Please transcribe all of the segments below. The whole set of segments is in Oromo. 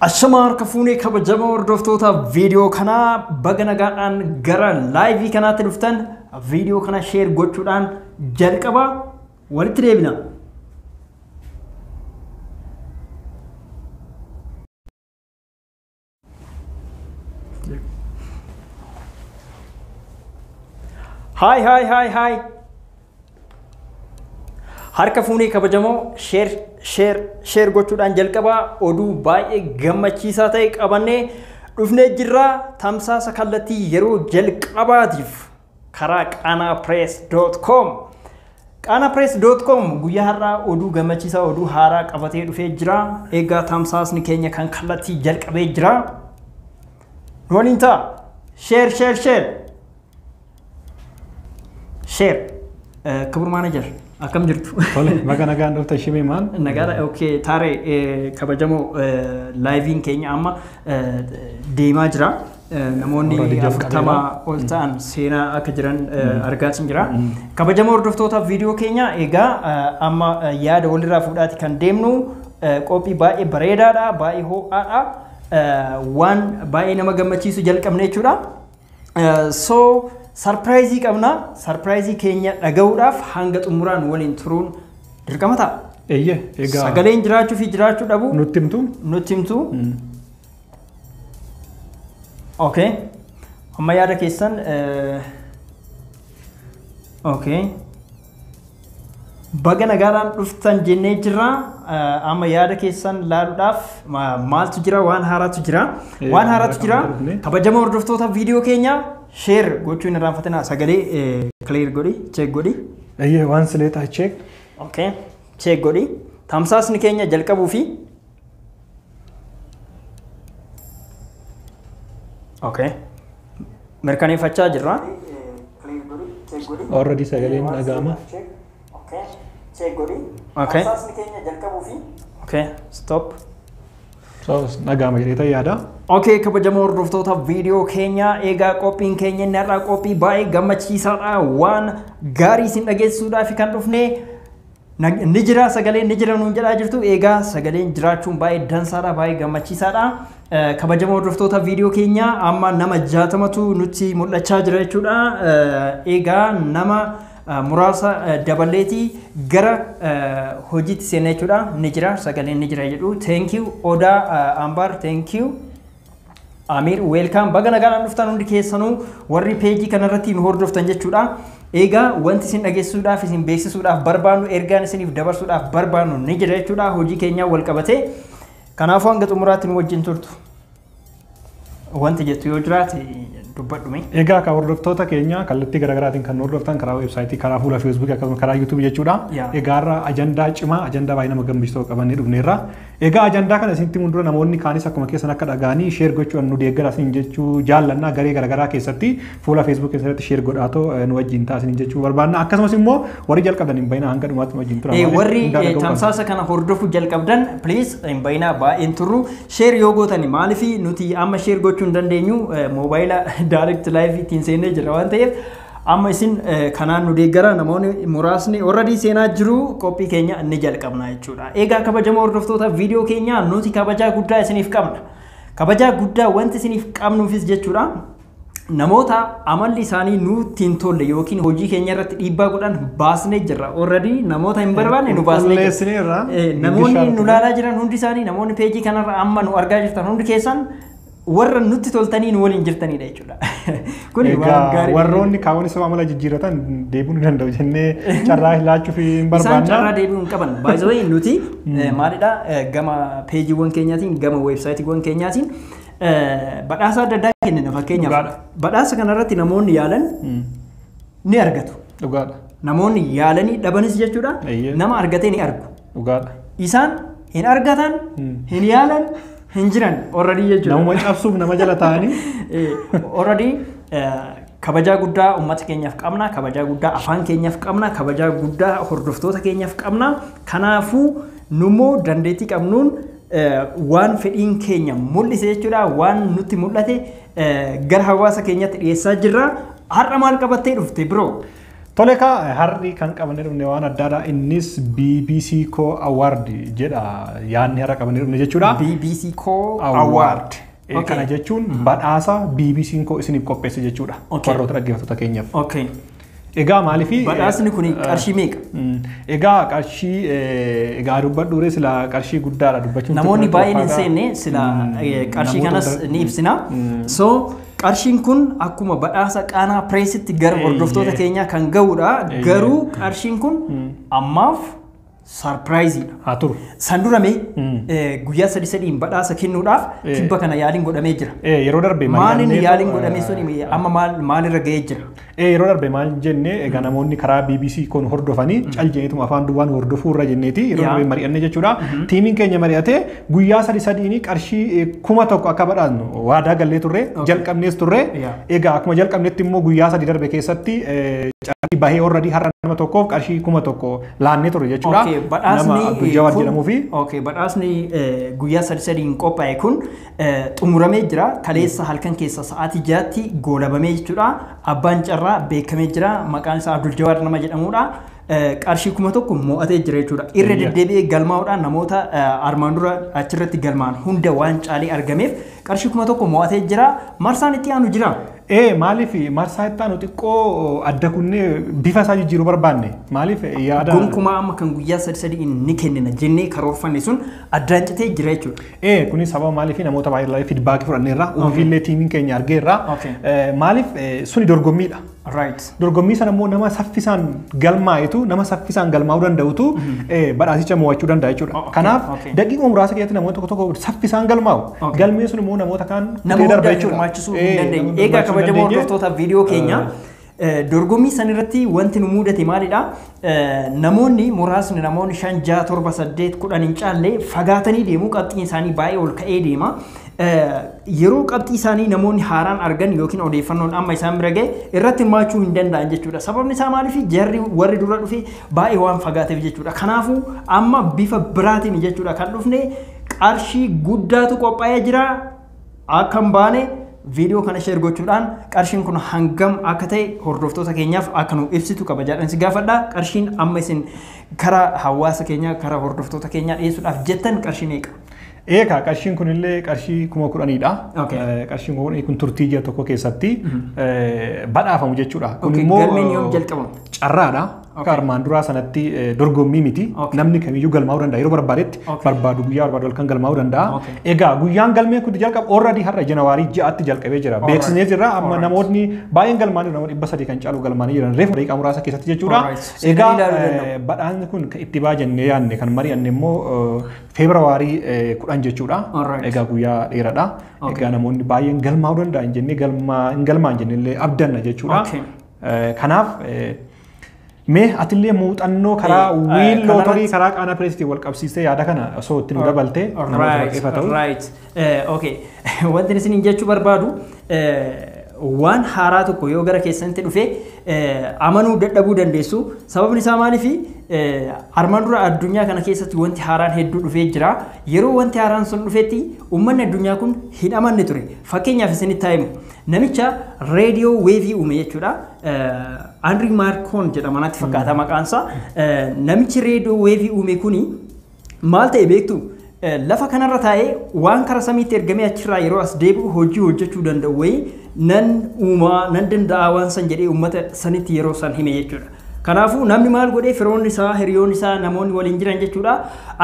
Ashamaa harka fuunee kabajamoo hordoftoota viidiyoo kanaa baga nagaadhaan gara laayivii kanaatti dhuftan viidiyoo kana sheer gochuudhaan jalqaba walitti deebina. Haay haay haay haay. Harka fuunee kabajamoo sheer sheer sheer gochuudhaan jalqabaa oduu baay'ee gammachiisaa ta'e qabannee dhufnee jirra tamsaasa kallattii yeroo jalqabaatiif karaa qaanaapress.com qaanaapress.com guyyaa har'aa oduu gammachiisaa oduu haaraa qabatee dhufee jira egaa tamsaasni keenya kan kallattii jalqabee jira nu waliin ta'a sheer sheer sheer sheer kibur maanajar akkam jirtu Tole, baga nagaan dhufte shimee maal? nagaadha ok taare eh, kabajamoo eh, laayiviin keenya amma eh, deemaa jira Namoonni Muradi Jaf afurtama Qabeelaa. ol ta'an seenaa akka jiran eh, argaatiin jira. Kabajamoo hordoftoota viidiyoo keenya egaa eh, amma eh, yaada walirraa fuudhaati kan deemnu eh, qophii baay'ee bareedaadha, baay'ee ho'aadha, eh, waan baay'ee nama gammachiisu jalqabne jechuudha. Eh, So sarpiraayizii qabna, sarpiraayizii keenya dhaga'uudhaaf hanga xumuraan waliin turuun dirqama ta'a. Eeyyee egaa Sagaleen jiraachuu fi jiraachuu dhabu nutti himtu nutti himtu. Okay. Amma yaada keessan eh, okay. Baga nagaadhaan dhuftan jennee jirra. Eh, Amma yaada keessan laaluudhaaf ma- maaltu jira waan haaraatu jira. Eh, Waan haaraatu haaraa jira. kan dhufne. Kabajama hordoftoota viidiyoo keenya sheer gochuu hin irraanfatinaa sagalee kileer godhi cheek godhi. Eeyyee waan silee taachee Okay. Cheek godhi. Tamsaasni keenya jalqabuu fi Okay. Mirkaneeffachaa jirra. Already sagaleen dhaga'ama. Okay. Asaasni keenya jalqabuu fi Okay. Stop. So dhaga'ama jedheeta yaada. Okay, kabajamoo hordoftoota viidiyoo keenya eegaa qophiin keenya inni har'aa qophii baay'ee gammachiisaadha waan gaarii isin dhageessisuudhaaf kan dhufne Nag- Ni jira sagaleen ni jira nuun jedhaa jirtu eegaa sagaleen jiraachuun baay'ee dansaadha baay'ee gammachiisaadha Eh, kabajamoo hordoftoota viidiyoo keenya amma nama jaatamatu nutti mul'achaa jira jechuudha Eh, eegaa nama eh, muraasa eh, dabaleeti gara eh, hojiitti seenna jechuudha ni jira sagaleen ni jira jedhu thank you odaa eh, ambaar thank you Amiir weelkaam baga nagaan dhuftan hundi keessanuu warri peejii kanarratti nu hordoftan jechuudha. Egaa wanti isin dhageessisuudhaaf isin beeksisuudhaaf barbaannu ergaan isiniif dabarsuudhaaf barbaannu ni jira jechuudha hojii keenyaa wal qabatee. Kanaafuu hanga xumuraatti nu wajjin turtu. Wanti jettu yoo jiraate dubbadhume. Egaa kan hordoftoota keenya kallattii garaagaraatiin kan hordoftan karaa weebsaayitii, karaa fuula feesbuukii akkasumas karaa yuutuubii jechuudha. Yaa. Egaa irra ajandaa cimaa, ajandaa baay'ee nama gammachiisu tokko qabannee dhufneerra. Egaa ajandaa kana isinitti himuun dura namoonni kaanis akkuma keessan akka dhaga'anii sheer gochuudhaan nu deeggaraa isiniin jechuu jaallannaa garee garaagaraa keessatti fuula feesbuukii keessan irratti sheer godhaatoo eh, nu wajjin ta'a isiniin jechuu barbaanna akkasumas immoo warri jalqabdan hin bayinaa hanga dhumaatti nu wajjin tura Eh, maaliif warri hundaa eh, dhaga'uu qabna. tamsaasa kana hordofuu jalqabdan please hin bayinaa baay'een turru sheer yoo gootani maaliif nuti amma sheer gochuu hin dandeenyu eh, moobaayila direct live ittiin seennee jira waan ta'eef Amma isin kanaan nu deeggara namoonni muraasni warradii seenaa jiru qophii keenya ni jalqabna jechuudha. Egaa kabajamoo hordoftoota viidiyoo keenyaa nuti kabajaa guddaa isiniif qabna. Kabajaa guddaa wanti isiniif qabnuufis jechuudha. Namoota amalli isaanii nutti hin tolle yookiin hojii keenya irratti dhiibbaa godhan baasnee jirra. Warradii namoota hin barbaanne nu baasnee jirra. Namoonni nu laalaa jiran hundi isaanii namoonni peejii kanarra amma nu argaa jirtan hundi keessan warra nutti toltanii nu waliin jirtaniidha jechuudha. Kuni waan Egaa gaarii. warroonni kaawwan isuma amala jijjiirratan deebi'uu ni danda'u jennee carraa laachuuf hin Isaan carraa barbaanna. deebi'uu hin qaban. By the way nuti eh, maalidha eh, gama peejiiwwan keenyaatiin gama weebsaayitiiwwan keenyaatiin eh, badhaasa adda addaa kennina fakkeenyaaf. Dhugaadha. Badhaasa kanarratti namoonni yaalan Mm, ni argatu. Dhugaadha. Namoonni yaalanii dhabanis jechuudha Eeyyee. nama argatee ni argu. Dhugaadha. Isaan hin argatan, hin yaalan, hin jiran already jechuudha. Namuma cabsuuf nama jala taa'anii. Already kabajaa guddaa uummata keenyaaf qabna, kabajaa guddaa afaan keenyaaf qabna, kabajaa guddaa hordoftoota keenyaaf qabna. Kanaafuu nummoo dandeettii qabnuun eh, waan fedhiin keenya mul'ise jechuudha, waan nutti mul'ate eh, gara hawaasa keenyatti dhiyeessaa jirra. Har'a maal qabattee dhufte biroo? Tole kaa har'i kan qabannee dhufne waan addaadha. Innis BBC Co Award jedha yaadni har'a qabannee dhufne jechuudha. BBC Co Award. Eh, Kana jechuun badhaasa BBC'n koo isiniif qopheesse jechuudha. Okay. Warroota dhaggeeffattoota keenyaaf. Okay. Egaa maaliif Badhaasni kun qarshii meeqa? Egaa qarshii eh, egaa dubbadhuure sila qarshii guddaadha dubbachuun. Namoonni xiqqaa baay'een hin fakkaata. seenne sila Mm, eh, qarshii namoota kanas hunda- ni ibsina. So Qarshiin kun akkuma badhaasa qaanaa pireesitti gara hordoftoota keenyaa kan ga'udha. Garuu qarshiin kun ammaaf saarpiraayiziidha. Haa turu. San dura mee guyyaa sadi sadiin badhaasa kennuudhaaf tibba kana yaaliin godhamee jira. Yeroo darbe Maaliin yaaliin godhamee sun amma maalirra ga'ee jira? Ee yeroo darbe maal jenne egaa namoonni karaa BBC koo nu hordofanii cal jenneetuma afaan duwwaa nu hordofuu irra jenneeti yeroo Yaa. darbe mari'anne jechuudha. Tiimiin keenya mari'atee guyyaa sadi sadiini qarshii eh, kuma tokko akka badhaasnu waadaa gallee turre jalqabnees turre. Yaa. Egaa akkuma jalqabnetti immoo guyyaa sadi darbe keessatti eh, carrii bahee orradii har'a nama tokkoof qarshii kuma tokko laannee turre jechuudha. Okay, badhaasni Nama Abdul Jawaad kun- jedhamuu fi Okay, badhaasni eh, guyyaa sadi sadiin qophaa'e kun xumuramee jira. Kaleessa halkan keessa sa'aatii ja'atti goolabamee jechuudha. Abbaan carraa beekamee jira. Maqaan isaa Abdul Jawaar nama jedhamudha. Qarshii kuma tokko mo'atee jira jechuudha. Irra deddeebi'ee galmaa'uudhaan namoota armaan dura achirratti galmaan hunda waan caalee argameef qarshii kuma tokko mo'atee jira. Marsaan itti aanu jira. Ee maaliif marsaa itti aanu xiqqoo adda kunnee bifa isaa jijjiiruu barbaanne maaliif yaada. Gonkumaa amma kan guyyaa sadi sadiin ni kennina jennee karoorfanne sun addaan citee jira jechuudha. Ee kunis sababa maaliif namoota baay'ee feedback fudhanneerra ofiillee tiimiin keenya argeerra Okay. Eh, maaliif eh, suni dorgommiidha. Right. Dorgommii sana immoo nama saffisaan galmaa'etu nama saffisaan galmaa'uu danda'utu eh, badhaasicha mo'achuu danda'a Oh, jechuudha. okay, Kanaaf okay. daqiiqaa muraasa keessatti namoonni tokko tokko saffisaan galmaa'u. Okay. Galmeen sun immoo namoota kaan Nama kutee darba hunda jechuudha. hirmaachisuu hin Eh, dandeenye. nama Egaa hirmaachisuu hin kabajamoo dandeenye. hordoftoota viidiyoo keenya Eh, Dorgommii san irratti wanti nu muudate maalidha? Namoonni muraasni namoonni shan ja'a torba saddeet kudhan hin caalle fagaatanii deemu qabxiin isaanii baay'ee ol ka'ee deema. Yeroo qabxii isaanii namoonni haaraan argan yookiin odeeffannoon amma isaan bira ga'e irratti hirmaachuu hin danda'an jechuudha. Sababni isaa maaliif jarri warri dura dhufe baay'ee waan fagaateef jechuudha. Kanaafuu amma bifa biraatiin jechuudha kan dhufne qarshii guddaatu qophaa'ee jira. akka hin baane viidiyoo kana sheer gochuudhaan qarshiin kun hangam akka ta'e hordoftoota keenyaaf akka nu ibsitu kabajaadhaan si gaafadha. Qarshiin amma isin karaa hawaasa keenyaa karaa hordoftoota keenyaa dhiyeessuudhaaf jettan qarshii meeqa? Eeka qarshiin kun illee qarshii kuma kudhaniidha. Okay. Eh, Qarshiin kuma kudhanii kun turtii ji'a tokko keessatti eh, badhaafamu jechuudha. Kun Okay, immoo galmeen yoom eh, jalqabama? carraadha. Akka armaan duraa sanatti eh, dorgommii miti. Okay. Namni kamiyyuu galmaa'uu danda'a. Yeroo barbaadetti Okay. barbaadu guyyaa barbaadu halkan galmaa'uu danda'a. Okay. Egaa guyyaan galmee kun jalqabu already har'a janawaarii ja'atti jalqabee jira. Alright. Beeksisnee jirra amma Alright. namootni baay'een galmaa'anii nama dhibba sadii kan caalu galmaa'anii jiran reefu daqiiqaa muraasa keessatti jechuudha. Alright. Seenaa Egaa ilaaluu eh, danda'u. badhaasni kun kan itti baajannee yaadne kan mari'anne immoo feebrawaarii kudhan jechuudha. Alright. Egaa guyyaa dheeradha. Okay. Egaa namoonni baay'een galmaa'uu danda'an jennee galmaa hin galmaa'an jennee illee abdanna jechuudha. Okay. Kanaaf mee atillee muuxannoo karaa Eh, eh, wiil kanarratti- lootorii karaa qaana pireesitiin wal qabsiistee yaada kana osoo itti nu dabaltee namoota Right, baay'eefa ta'u. right. Eh, okay. Wanti isin jechuu barbaadu eh, waan haaraa tokko yoo gara keessanitti dhufe eh, amanuu dadhabuu dandeessu. Sababni isaa maaliifi? Eh, Armaan dura addunyaa kana keessatti wanti haaraan hedduu dhufee jira. Yeroo wanti haaraan sun dhufetti uummanni addunyaa kun hin amanne ture. Fakkeenyaaf isinitti himu. Namicha reediyoo weevii uume jechuudha. Anri Maarkoon jedhama natti fakkaata maqaansaa. Namichi reediyoo weevii uume kuni maal ta'e beektu? Lafa kanarra taa'ee waan karaa samiitti ergamee achirraa yeroo as deebi'u hojii hojjechuu danda'u wayii nan uumaa nan danda'a waan san jedhee uummata sanitti yeroo san hime jechuudha. Kanaafuu namni maal godhee firoonni isaa, hiriyoonni isaa, namoonni waliin jiran jechuudha.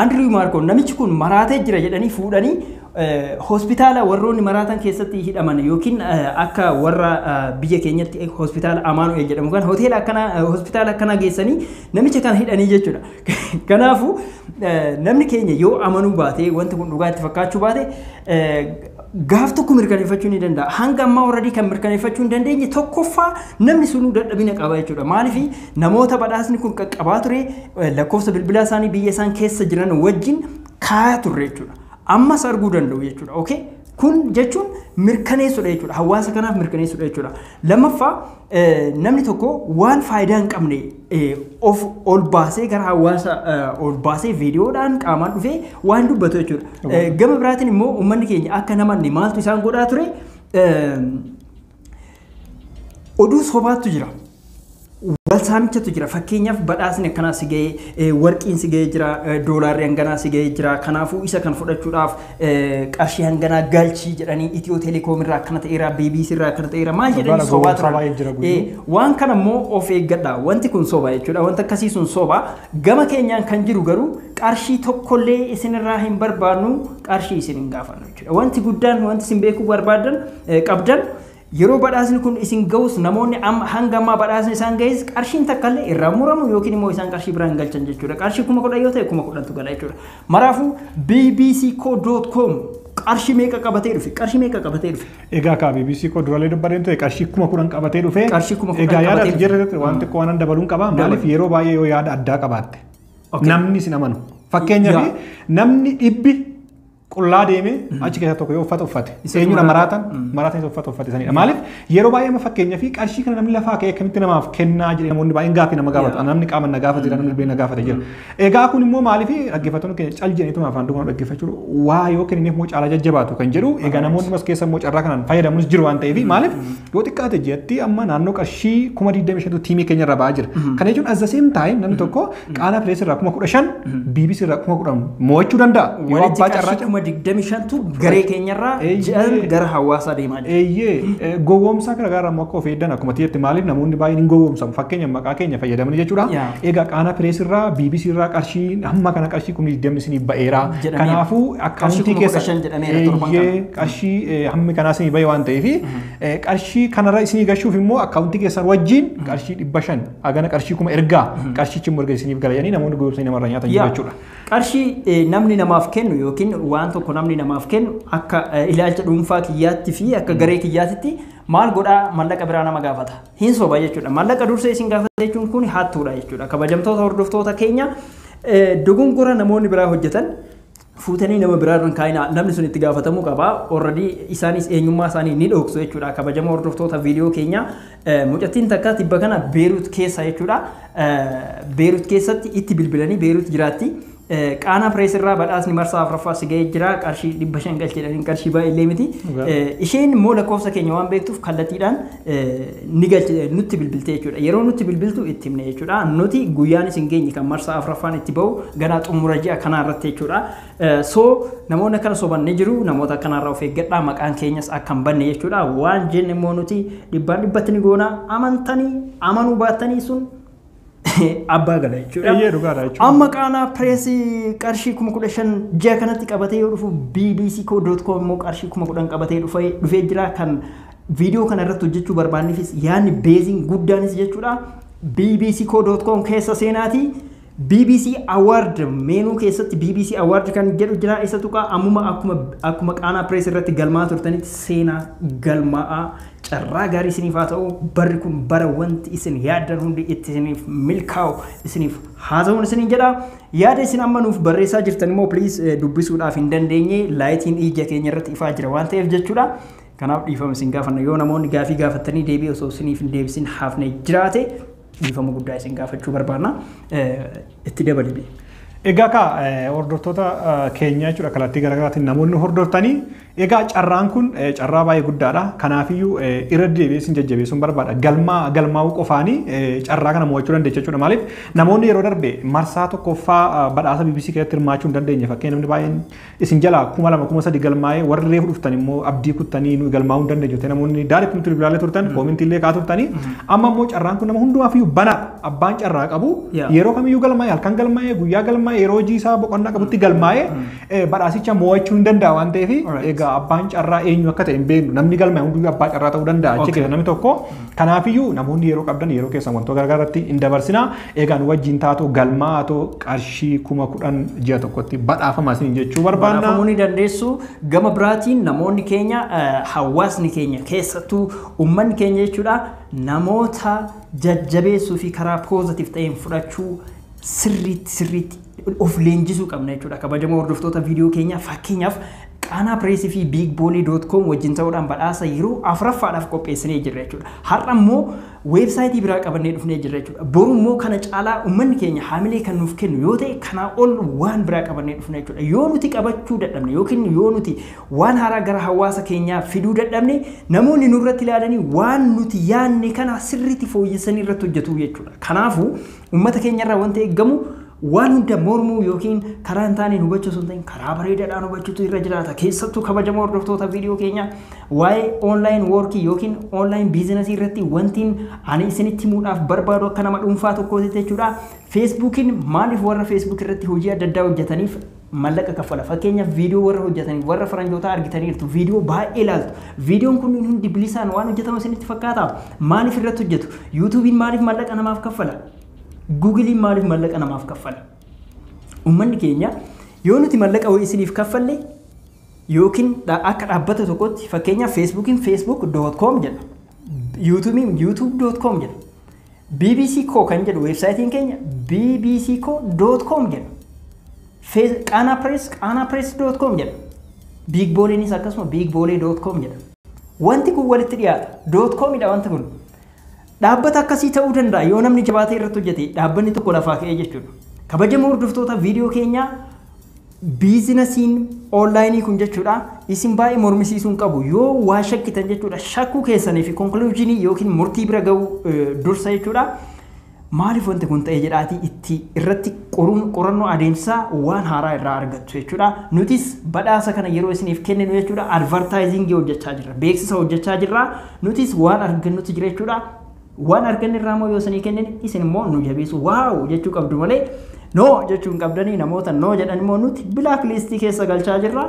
Andiriw Maarkoon namichi kun maraatee jira jedhanii fuudhanii hospitaala warroonni maraatan keessatti hidhaman yookiin akka warra biyya keenyatti hospitaala Amaanu'eel jedhamu kan hoteela akkanaa hospitaala akkanaa geessanii namicha kana hidhanii jechuudha. Kanaafuu namni keenya yoo amanuu baate wanti kun dhugaa itti fakkaachuu baate gaaf tokko mirkaneeffachuu ni danda'a. Hanga ammaa warradii kan mirkaneeffachuu hin dandeenye tokkoffaa namni sunuu dadhabina qaba jechuudha. Maaliif namoota badhaasni kun qaqqabaa ture lakkoofsa bilbilaa isaanii biyya isaan keessa jiran wajjin kaayaa turre jechuudha. ammas arguu danda'u jechuudha. Okay? Kun jechuun mirkaneessudha jechuudha. Hawaasa kanaaf mirkaneessudha jechuudha. Lammaffaa namni tokko waan faayidaa hin qabne of ol baasee gara hawaasa ol baasee viidiyoodhaan qaamaan dhufee waan dubbatu jechuudha. Gama biraatiin immoo uummanni keenya akka namanne maaltu isaan godhaa ture? Oduu sobaattu jira. Wal saamichatu jira. Fakkeenyaaf badhaasni akkanaa si ga'ee, eh, warqiin si ga'ee jira, eh, doolaarri hanganaa si ga'ee jira. Kanaafuu isa kan fudhachuudhaaf eh, qarshii hanganaa galchii jedhanii Itiyoo Telekoom irraa akkana ta'eera, BBC irraa akkana ta'eera. Maal jedhanii Bara sobaa gowwoomsaa baay'ee jira turan. guyyuu. Eh, waan kana immoo of eeggadha. Wanti kun soba jechuudha. Wanti akkasii sun soba. Gama keenyaan kan jiru garuu qarshii tokkollee isinirraa hin barbaannu, qarshii isin hin gaafannu. Wanti guddaan wanti isin beekuu barbaadan qabdan yeroo badhaasni kun isin ga'us namoonni hanga ammaa badhaasni isaan ga'es qarshiin takka illee irraa muramu yookiin immoo isaan qarshii biraan galchan jechuudha. Qarshii kuma kudhan yoo ta'e kuma kudhantu gala jechuudha. Maraafuu bbcco.com qarshii meeqa qabatee dhufe? Qarshii meeqa qabatee dhufe? Egaa kaa BBC koo durallee dubbadeen ture qarshii kuma kudhan qabatee dhufe. Qarshii kuma kudhan Egaa yaada qabatee ati dhufe. jedhe waan xiqqoo waan dabaluun qaba. Maaliif yeroo baay'ee yoo yaada addaa qabaatte Okay. namni isin amanu. Fakkeenyaaf Yaa. namni dhibbi qullaa deemee achi keessaa tokko yoo uffata uffate Isatu eenyudha maraata. maraatan maraatan isa uffata uffate sanidha maaliif yeroo baay'ee amma fakkeenya fi qarshii kana namni lafaa ka'ee akkamitti namaaf kennaa jedhee namoonni baay'een gaaffii nama gaafatu Yeah. namni qaama na gaafate jira namni bilbila na gaafate jira egaa kun immoo maaliif dhaggeeffattoonni keenya cal jedhaniituma afaan duukaa dhaggeeffachuu waa yoo kennineef immoo caalaa jajjabaatu kan jedhu egaa namoonni as keessa immoo carraa kanaan fayyadamuunis jiru waan ta'eef maaliif Yoo xiqqaate ji'atti amma naannoo qarshii kuma 25tu tiimii keenya irra ba'aa jira. Kana jechuun as the same time namni tokko qaanaa pirees irraa kuma 15 BBC irraa kuma 10 mo'achuu danda'a. Yoo Walitti abbaa qarshii carraa kuma 25tu garee keenyarraa Eeyyee. ji'an gara hawaasaa deemaa jira. Eeyyee eh, gowwoomsaa gara garaa immoo akka of eegdan akkuma tiyyatti maaliif namoonni baay'een hin gowwoomsamu fakkeenya maqaa keenya fayyadamanii jechuudha. Yaa. Egaa qaanaa pirees irraa BBC irraa qarshii hamma kana qarshii kuma 20 isiniif ba'eera. Jedhameera. Kanaafuu Qarshii akkaawuntii kuma keessa 15 jedhameera torban kana. Eeyyee, qarshii eh, hammi kanaa isinii ba'e waan ta'eef Eh, qarshii kanarra isinii gashuuf immoo akkaawuntii keessan wajjin qarshii dhibba shan hagana qarshii kuma ergaa qarshichi immoo erga isiniif gala jedhanii namoonni goyoomsanii namarra nyaatan jiru Yaa, jechuudha. Qarshii eh, namni namaaf kennu yookiin waan tokko namni namaaf kennu akka eh, ilaalcha dhuunfaa kiyyaatti fi akka garee kiyyaatitti maal godhaa mallaqa biraa nama gaafata. Hin soba jechuudha. Mallaqa dursee isin gaafata jechuun kun hattuudha jechuudha. Kabajamtoota hordoftoota keenya eh, dogongora namoonni biraa hojjetan fuutanii nama biraa irra hin kaa'inaa namni sun itti gaafatamuu qaba already isaanis eenyummaa isaanii ni dhoksu jechuudha kabajamoo hordoftoota viidiyoo keenya mucattiin takka tibba kana beeruut keessa jechuudha beeruut keessatti itti bilbilanii beeruut jiraatti qaanaa pirees irraa badhaasni marsaa afraffaa si ga'ee jira qarshii dhibba shan galcheedhaan qarshii baay'ee illee miti isheen immoo lakkoofsa keenya waan beektuuf kallattiidhaan ni galchite nutti bilbiltee jechuudha. Yeroo nutti bilbiltu itti himne jechuudha. Nuti guyyaan isin geenye kan marsaa afraffaan itti ba'u ganaa xumura ji'a kanaa irratti jechuudha. So namoonni akkana soban ni jiru. Namoota akkanarraa of eeggadhaa maqaan keenyas akka hin banne jechuudha. Waan jenne immoo nuti dhibbaan dhibbatti ni goona. Amantanii amanuu baattanii sun abbaa gala jechuudha. Eeyyee dhugaadha jechuudha. Amma qaanaa pireesii qarshii kuma kudha shan ji'a kanatti qabatee yoo dhufu BBC koo doot koom immoo qarshii kuma kudhan qabatee dhufee dhufee jira kan viidiyoo kana irratti hojjechuu barbaanneefis yaadni beeziin guddaanis jechuudha. BBC koo doot koom keessa seenaati. BBC Award meenuu keessatti BBC Award kan jedhu jira isa tuqaa ammuma akkuma akkuma qaanaa pirees irratti galmaa turtanitti seenaa galmaa'aa Carraa gaarii isiniif haa ta'u, barri kun bara wanti isin yaaddan hundi itti isiniif milkaa'u isiniif haa ta'uun isiniin jedha. Yaada isin amma nuuf barreessaa jirtan immoo piliis dubbisuudhaaf hin dandeenye laayitiin ija keenya irratti ifaa jira waan ta'eef jechuudha. Kanaaf dhiifama isin gaafanna yoo namoonni gaafii gaafattanii deebii osoo isiniif hin deebisin hafne jiraate Dhiifama guddaa isin gaafachuu barbaanna. Itti dabali mee. Egaa kaa hordoftoota keenya jechuudha kallattii garaagaraatiin namoonni hordoftanii egaa carraan kun carraa baay'ee guddaadha. Kanaafiyyuu irra deebi'ee isin jajjabeessuun barbaada. Galmaa galmaa'uu qofaanii carraa kana mo'achuu dandeecha jechuudha. Maaliif namoonni yeroo darbe marsaa tokkoffaa badhaasa BBC keessatti hirmaachuu hin dandeenye fakkeenyaaf namni baay'een Isin jalaa kuma lama kuma sadi galmaa'ee warri reefu dhuftan immoo abdii kuttanii nuyi galmaa'uu hin dandeenye jettee namoonni daaritti nutti bilbilaalee turtan koomintii illee kaa turtanii amma immoo carraan kun nama hundumaaf iyyuu banaa abbaan carraa qabu Yeah. yeroo kamiyyuu galmaa'ee halkan galmaa'ee guyyaa galmaa'ee yeroo hojii isaa boqonnaa qabutti galmaa'ee eh, badhaasicha mo'achuu hin danda'a waan ta'eef Alright. egaa abbaan carraa eenyu akka ta'e hin beeknu namni galmaa'e hunduyyuu abbaa carraa ta'uu danda'a achi Okay. keessa namni tokko kanaafiyyuu namoonni yeroo qabdan yeroo keessan wantoota garagaratti hin dabarsinaa Egaa nu wajjin taatoo galmaatoo qarshii kuma kudhan ji'a tokkotti badhaafama isin jechuu barbaanna. Badhaafamuu ni dandeessu. Gama biraatiin namoonni keenya hawaasni keenya keessattuu uummanni keenya jechuudha namoota jajjabeessuu fi karaa poozatiif ta'een fudhachuu sirriitti sirriitti of leenjisuu qabna jechuudha. Kabajamoo hordoftoota viidiyoo keenyaa fakkeenyaaf Qaanaa Pireesii fi Biig Boolee Doot Koom wajjin ta'uudhaan badhaasa yeroo afuraffaadhaaf qopheessinee jirra jechuudha. Har'a immoo Weebsaayitii biraa qabannee dhufnee jirra jechuudha. Boru immoo kana caalaa ummanni keenya haamilee kan nuuf kennu yoo ta'e kanaa ol waan biraa qabannee dhufna jechuudha. Yoo nuti qabachuu dadhabne yookiin yoo nuti waan haaraa gara hawaasa keenyaa fiduu dadhabne namoonni nurratti ilaalanii waan nuti yaanne kana sirriitti fooyyessanii irratti hojjetu jechuudha. Kanaafuu Uummata keenyarraa wanti eeggamu waan hunda mormuu yookiin karaa hin taaneen hubachuu osoo hin ta'in karaa bareedaadhaan hubachuutu irra jiraata. Keessattuu kabajamoo hordoftoota viidiyoo keenyaa waa'ee online workii yookiin online biizinasii irratti wantiin ani isinitti himuudhaaf barbaadu akka nama dhuunfaa tokkootitti jechuudha. Feesbuukiin maaliif warra feesbuuk irratti hojii adda addaa hojjetaniif mallaqa kaffala. Fakkeenyaaf viidiyoo warra hojjetanii warra faranjootaa argitaniirtu viidiyoo baay'ee ilaaltu. Viidiyoon kun hundi bilisaan waan hojjetamu isinitti fakkaata. Maaliif irratti hojjetu? Yuutuubiin maaliif mallaqa namaaf kaffala? Guugiliin maaliif mallaqa namaaf kaffala? Uummanni keenya yoo nuti mallaqa wayii isiniif kaffalle yookiin akka dhaabbata tokkotti fakkeenyaaf feesbuukiin facebook.com jedha. Yuutuubiin youtube.com jedha. bbc koo kan jedhu weebsaayitiin keenya bbc koo doot koom jedha. Fees- Qaanaa Pirees qaanaa pirees doot koom jedha. Biig booleenis akkasuma biig boolee doot koom jedha. Wanti kun walitti dhiyaata. Doot koomidha wanti kun. Dhaabbata akkasii ta'uu danda'a yoo namni jabaatee irratti hojjete dhaabbanni tokko lafaa ka'ee jechuudha. Kabajamoo hordoftoota viidiyoo keenyaa Biizinasiin Oonlaayinii kun jechuudha isin baay'ee mormisiisuu hin qabu yoo waa shakkitan jechuudha shakkuu keessanii fi konkuluujiinii yookiin murtii bira ga'uu dursa jechuudha maaliif wanti kun ta'ee jedhaatii itti irratti qoruun qorannoo adeemsaa waan haaraa irraa argattu jechuudha nutis badhaasa kana yeroo isiniif kenninu jechuudha advartaayiziingii hojjechaa jirra beeksisa hojjechaa jirra nutis waan argannutti jira jechuudha Waan arganne irraa immoo yoo isinii kennine isin immoo nu jabeessu waaw jechuu qabdu malee noo jechuu hin qabdanii namoota noo jedhan immoo nuti bilaak liistii keessa galchaa jirra.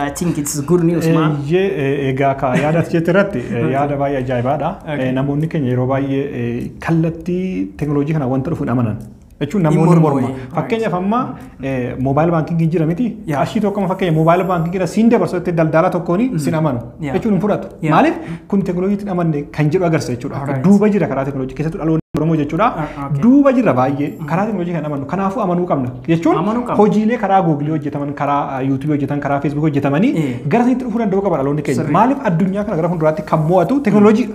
I think it's good news man. Eeyyee egaa kaa yaada as jette irratti yaada baay'ee ajaa'ibaadha. Namoonni keenya yeroo baay'ee kallattii teekinooloojii kana wanta dhufuun amanan. jechuun namoonni morma. morma wayii. Fakkeenyaaf amma moobaayil baankiingii jira miti. Yaa. Qarshii tokko amma fakkeenya moobaayil baankiingiidha siin dabarsu jettee daldalaa tokkoon sin amanu. Yaa. Jechuun hin fudhatu. Yaa. Maaliif kun teekinooloojiitti hin amanne kan jedhu agarsiisa jechuudha. Alright. Duuba jira karaa teekinooloojii keessattuu dhaloonni Oromoo jechuudha. Ah, ah, okay. Duuba jira baay'ee karaa teekinooloojii kan amannu. Kanaafuu amanuu qabna. Jechuun Amanuu qabna. hojiilee karaa Googilii hojjetaman, karaa Yuutuubii hojjetan, karaa Feesbuukii hojjetamanii Eh. gara sanitti dhufuu danda'uu qaba dhaloonni keenya. Sirrii. Maaliif addunyaa kana gara fuulduraatti kan mo'atu teekinooloojiidha.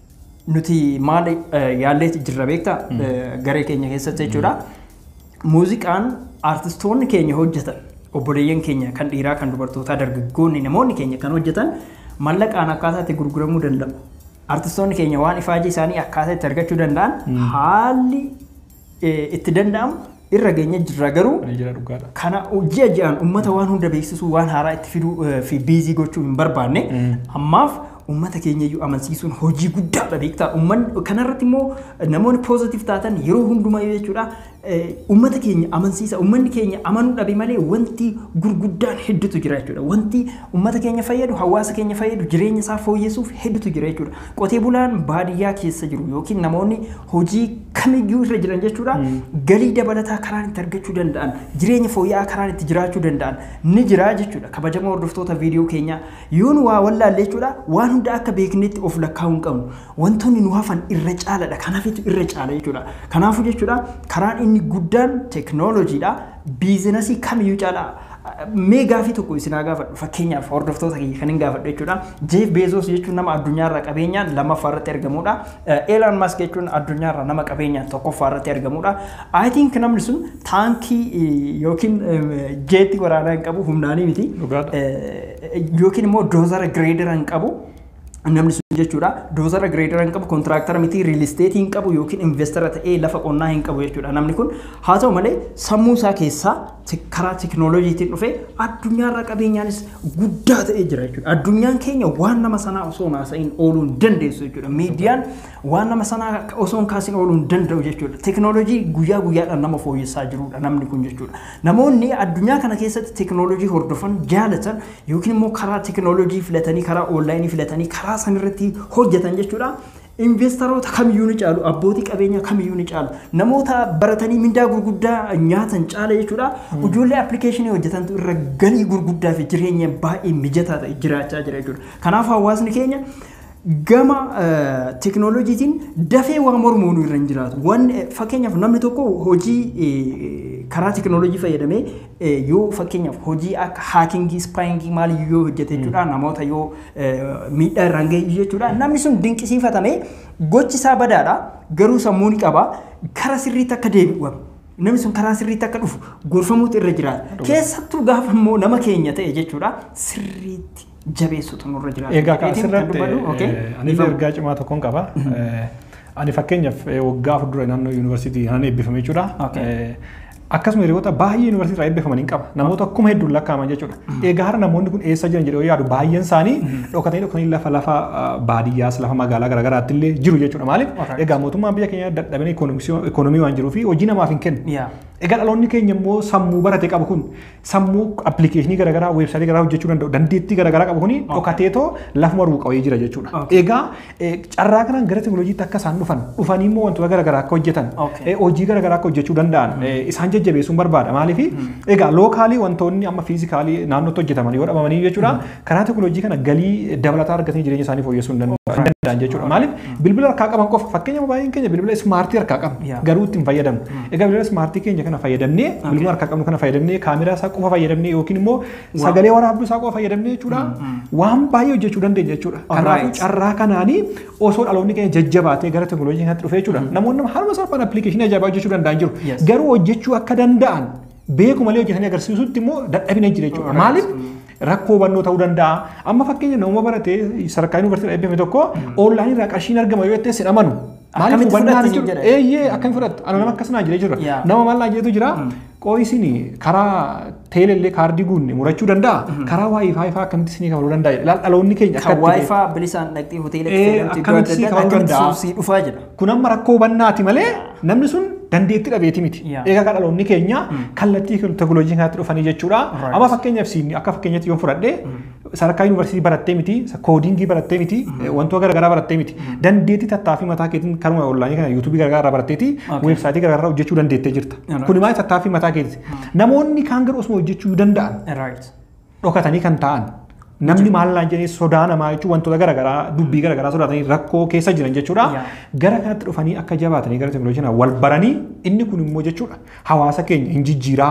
nuti maal yaalleeti jirra beektaa garee keenya keessatti jechuudha. Muuziqaan artistoonni keenya hojjetan obboleeyyan keenya kan dhiiraa kan dubartootaa dargaggoonni namoonni keenya kan hojjetan mallaqaan akkaataa itti gurguramuu danda'u. Artistoonni keenya waan ifaajii isaanii akkaataa itti argachuu danda'an haalli itti danda'amu irra geenye jirra garuu kana ji'a ji'aan ummata waan hunda beeksisuu waan haaraa itti fiduu fi biizii gochuu hin barbaanne ammaaf ummata keenya iyyuu amansiisuun hojii guddaadha beektaa ummanni kanarratti immoo namoonni poozitiif taatan yeroo hundumaa yoo jechuudha ummata keenya amansiisa ummanni keenya amanuu dhabe malee wanti gurguddaan hedduutu jira jechuudha wanti ummata keenya fayyadu hawaasa keenya fayyadu jireenya isaa fooyyessuuf hedduutu jira jechuudha Qotee bulaan baadiyyaa keessa jiru yookiin namoonni hojii kamiyyuu irra jiran jechuudha galii dabalataa karaan itti argachuu danda'an jireenya fooyya'aa karaan itti jiraachuu danda'an ni jira jechuudha kabajamoo hordoftoota viidiyoo keenyaa yoo nu waa wallaalle jechuudha waan hunda akka beeknetti of lakkaa'uu hin qabnu wantoonni nu hafan irra caaladha kanafitu irra caala jechuudha kanaafuu jechuudha karaan inni guddaan teknooloojiidha Biizinasii kamiyyuu caalaa mee gaafii tokko isin haa gaafadhu fakkeenyaaf hordoftoota kiyya kanin gaafadhu jechuudha. Jeef Beezoos jechuun nama addunyaarraa qabeenyaan lammaffaa irratti argamuudha. Eelaan Maask jechuun addunyaarraa nama qabeenyaan tokkoffaa irratti argamuudha. I think namni sun taankii yookiin jeetti waraanaa hin qabu humnaanii miti. Dhugaadha. Yookiin immoo doozara gireedera hin qabu. namni sun jechuudha doozara gireedara hin qabu kontiraaktara miti riilisteetii hin qabu yookiin investara ta'ee lafa qonnaa hin qabu jechuudha namni kun haa ta'u malee sammuu isaa keessaa karaa tekinooloojiitiin dhufee addunyaarra qabeenyaanis guddaa ta'ee jira jechuudha addunyaan keenya waan nama sanaa osoo hin haasa'iin ooluu hin dandeessu jechuudha miidiyaan waan nama sanaa osoo hin kaasiin ooluu hin danda'u jechuudha tekinooloojii guyyaa guyyaadhaan nama fooyyessaa jirudha namni kun jechuudha namoonni addunyaa kana keessatti tekinooloojii hordofan jaalatan yookiin immoo karaa tekinooloojii filatanii karaa oonlaayinii filatanii karaa san irratti hojjetan jechuudha. Investaroota kamiyyuu ni caalu, abbootii qabeenyaa kamiyyuu ni caalu, namoota baratanii mindaa gurguddaa nyaatan caala jechuudha. Ijoollee appilikeeshinii hojjetantu irra galii gurguddaa fi jireenya baay'ee mijataa ta'e jiraachaa jira jechuudha. Kanaaf hawaasni keenya gama teknooloojiitiin dafee waa mormuun irra hin jiraatu. Wan fakkeenyaaf namni tokko hojii karaa teknooloojii fayyadamee yoo fakkeenyaaf hojii akka haakingii, spaayingii maal yoo hojjete jechuudha namoota yoo miidhaa irraan ga'e jechuudha. Namni sun dinqisiifatamee gochi isaa badaadha garuu sammuu ni qaba kara sirriitti akka deebi'u namni sun karaa sirriitti akka dhufu gorfamuutu irra jiraata. Keessattuu gaafa immoo nama keenya ta'e jechuudha sirriitti jabeessutu nurra jiraata. Egaa kan Jedheetiin kan asirratti dubbatu, okay? eh, anis Dhiifama. ergaa cimaa tokkoon qaba. Eh, Ani fakkeenyaaf eh, waggaa afur dura naannoo yuunivarsiitii kanaan eebbifame jechuudha. Okay. Eh, Akkasuma hiriyoota baay'ee yuunivarsiitii irraa eebbifaman hin qaba. Namoota akkuma hedduun lakkaa'aman jechuudha. Egaa har'a namoonni kun eessa jiran jedhee yoo yaadu baay'een isaanii dhokatanii dhokatanii lafa lafa ah, baadiyyaas lafa magaalaa garaagaraatti illee jiru jechuudha. Maaliif? Alright. Egaa mootummaan biyya keenya dadhabina ikoonomisii- ikoonomii waan jiruu fi hojii namaaf hin kennu. Yeah. Egaa dhaloonni keenya immoo sammuu barate qabu kun sammuu appilikeeshinii garaagaraa weebsaayitii garaagaraa hojjechuu danda'u dandeettii garaagaraa qabu kuni dhokateetoo lafuma ruuqawee jira jechuudha. Okay. Egaa eh, carraa kanaan gara teknolojiitti akka isaan dhufan dhufanii immoo wantoota garaagaraa akka hojjetan Okay. eh, hojii garaagaraa akka hojjechuu danda'an eh, isaan jajjabeessuun barbaada maaliif egaa lookaalii wantoonni amma fiizikaalii naannootti hojjetaman yoo dhabamanii jechuudha Karaa teekinooloojii kana galii dabalataa argatanii jireenya isaanii fooyyessuu hin danda'u- hin danda'an jechuudha. Maaliif bilbila harkaa qaban qofa fakkeenya baay'een keenya bilbila ismaartii harkaa qabna Yeah. garuu ittiin fayyadamna. Egaa bilbila ismaartii keenya kana fayyadamnee bilbila harkaa qabnu kana fayyadamnee kaameraa isaa qofa fayyadamnee yookiin immoo sagalee waraabduu isaa qofa fayyadamnee jechuudha. Waan baay'ee hojjechuu dandeenya jechuudha. Kanaafuu Alright. carraa kanaanii osoo dhaloonni keenya jajjabaatee gara teekinooloojii kanatti dhufee jechuudha. Namoonni haaluma salphaan appilikeeshinii ajaa'ibaa hojjechuu danda'an jiru. Yes. Garuu hojjechuu akka danda'an beeku malee hojjetanii agarsiisutti immoo dadhabina jira jechuudha. Maaliif rakkoo hubannoo ta'uu danda'a. Amma fakkeenya nama barate sadarkaa yuunivarsiitii eebbifame tokko oonlaayinii irraa qarshiin argama yoo jettees hin amanu. Maaliif hubannaan hin jiru. Eeyyee akkamitti fudhattu? Ana nama akkas naa jedhee jira. Nama maal naa jedhetu jira. Qo'ii isin karaa teelellee kaardii guunne murachuu danda'a. Karaa waayifaayi fa'aa akkamitti isinii kabaluu danda'a. Dhaloonni keenya akkatti. Kan waayifaa bilisaan dhaqxee hoteela keessatti akkamitti isinii kabaluu danda'a. Sii dhufaa jedha. Kun amma rakkoo hubannaati malee namni sun dandeetti dhabeeti miti. Yeah. Egaa kan dhaloonni keenya kallattii kun teknolojii kanatti dhufanii jechuudha. Right. Amma fakkeenyaaf siin akka fakkeenyatti yoo fudhadhe sadarkaa yuunivarsiitii barattee miti, koodiingii barattee miti, wantoota garaagaraa barattee miti. Dandeettii tattaaffii mataa keetiin karuma onlaayinii kana yuutuubii garaagaraa irraa baratteeti Okay. weebsaayitii garaagaraa hojjechuu dandeettee jirta. Alright. Kun maal tattaaffii mataa keetis. Namoonni kaan garuu osuma hojjechuu danda'an Right. dhokatanii kan taa'an. Namni maal naan jedhee sodaa namaa jechuun wantoota garaagaraa dubbii garaagaraa sodaatanii rakkoo keessa jiran jechuudha. Yaa. Gara kanatti dhufanii akka jabaatanii gara teknolojii kanaa wal baranii inni kun immoo jechuudha hawaasa keenya hin jijjiiraa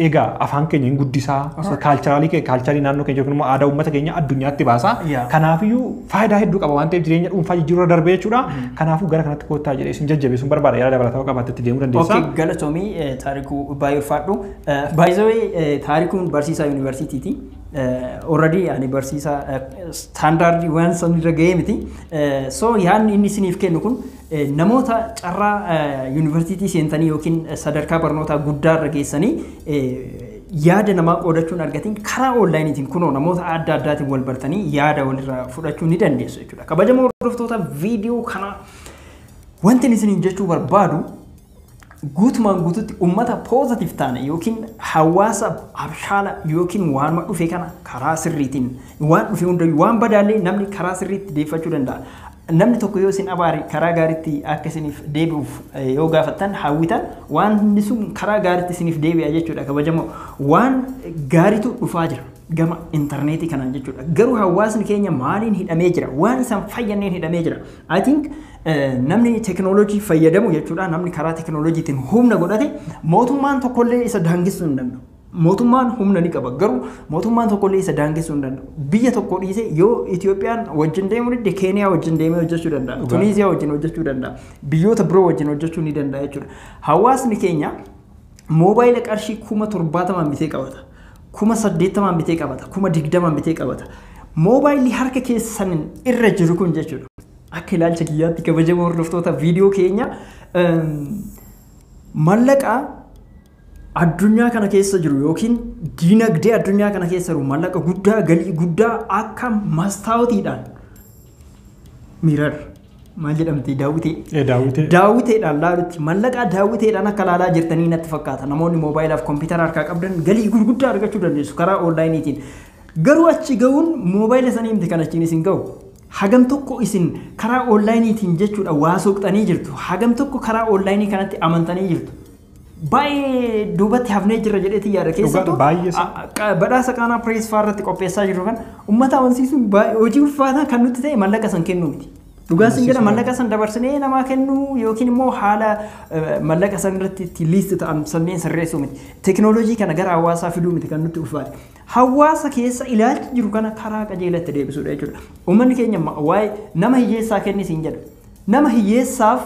egaa afaan keenya hin guddisaa kaalcharaalii keenya kaalcharii naannoo keenya yookiin immoo aadaa uummata keenya addunyaatti baasaa Yaa. kanaafiyyuu faayidaa hedduu qaba waan ta'eef jireenya dhuunfaa jijjiiruu irra darbee jechuudha. Kanaafuu gara kanatti koottaa jedhee isin jajjabeessuun barbaada yaada dabalataa qabaattetti deemuu dandeessaa. Okay, galatomii eh, taarikuu baay'ee ulfaadhu. By the way, eh, taarikuun barsiisaa yuunivarsiitiiti. Eh, already ani barsiisaa eh, standardii waan san irra ga'ee miti. Eh, so yaadni inni isiniif kennu kun eh, namoota carraa eh, yuunivarsiitii seentanii yookiin eh, sadarkaa barnootaa guddaa irra geessanii eh, yaada namaa qoodachuun argatiin karaa onlaayiniitiin kunoo namoota adda addaatiin wal bartanii yaada walirraa fudhachuu ni dandeessu jechuudha. Kabajamoo hordoftoota viidiyoo kanaa wanti isiniin jechuu barbaadu guutumaan guututti ummata positive taane yookiin hawaasa abshaala yookiin waanuma dhufe kana karaa sirriitiin waan dhufe hundayyuu waan badaallee namni karaa sirriitti deeffachuu danda'a. Namni tokko yoo isin abaare karaa gaariitti akka isiniif deebi'uuf eh, yoo gaafattan hawwitan waan inni sun karaa gaariitti isiniif deebi'a jechuudha kabajamoo waan gaariitu dhufaa jira. gama intarneetii kanaan jechuudha. Garuu hawaasni keenya maaliin hidhamee jira? Waan isaan fayyanneen hidhamee jira. I think namni teknoolojii fayyadamu jechuudha namni karaa teknoolojiitiin humna godhate mootummaan tokkollee isa daangessuu hin danda'u. Mootummaan humna ni qaba garuu mootummaan tokkollee isa daangessuu hin danda'u. Biyya tokko dhiisee yoo Itoophiyaan wajjin deemuu didde Keeniyaa wajjin deemee hojjechuu danda'a. Dhugaa. Tuniiziyaa wajjin hojjechuu danda'a. Biyyoota biroo wajjin hojjechuu ni danda'a jechuudha. Hawaasni keenya Moobaayila qarshii kuma torbaatamaan bitee qabata. Kuma saddeettamaan bitee qabata. Kuma digdamaan bitee qabata. Moobaayilli harka keessan irra jiru kun jechuudha. Akka ilaalcha kiyyaatti kabajamoo hordoftoota viidiyoo keenya mallaqa addunyaa kana keessa jiru yookiin diinagdee addunyaa kana keessa jiru mallaqa guddaa galii guddaa akka mastaawotiidhaan Mirar maal jedhamti daawwitee? Ee daawwitee. Daawwiteedhaan laalutti mallaqaa daawwiteedhaan akka laalaa jirtanii natti fakkaata. Namoonni moobaayilaf kompiitara harkaa qabdan galii gurguddaa argachuu dandeessu karaa oonlaayiniitiin. Garuu achi ga'uun moobaayila sanii miti kan achiin isin ga'u. Hagam tokko isin karaa oonlaayiniitiin jechuudha waa soqxanii jirtu. Hagam tokko karaa oonlaayinii kanatti amantanii jirtu. baay'ee duubatti hafnee jirra jedheetti yaada keessattuu baay'ee sa- a- a- badhaasa qaanaa pirees faa irratti qopheessaa jirru kan uummata amansiisuun baay'ee hojii ulfaataa kan nutti ta'e mallaqa san kennuu miti. Dhugaa sin jedha mallaqa san dabarsinee namaa kennuu yookiin immoo haala eh, mallaqa san irratti itti liist ta'an sanneen sirreessuu miti. Teknooloojii kana gara hawaasaa fiduu miti kan nutti ulfaate. Hawaasa keessa ilaalchi jiru kana karaa qajeelatti deebisuudha jechuudha. Uummanni keenya ma- waa'ee nama hiyyeessaa kenni siin jedha. Nama hiyyeessaaf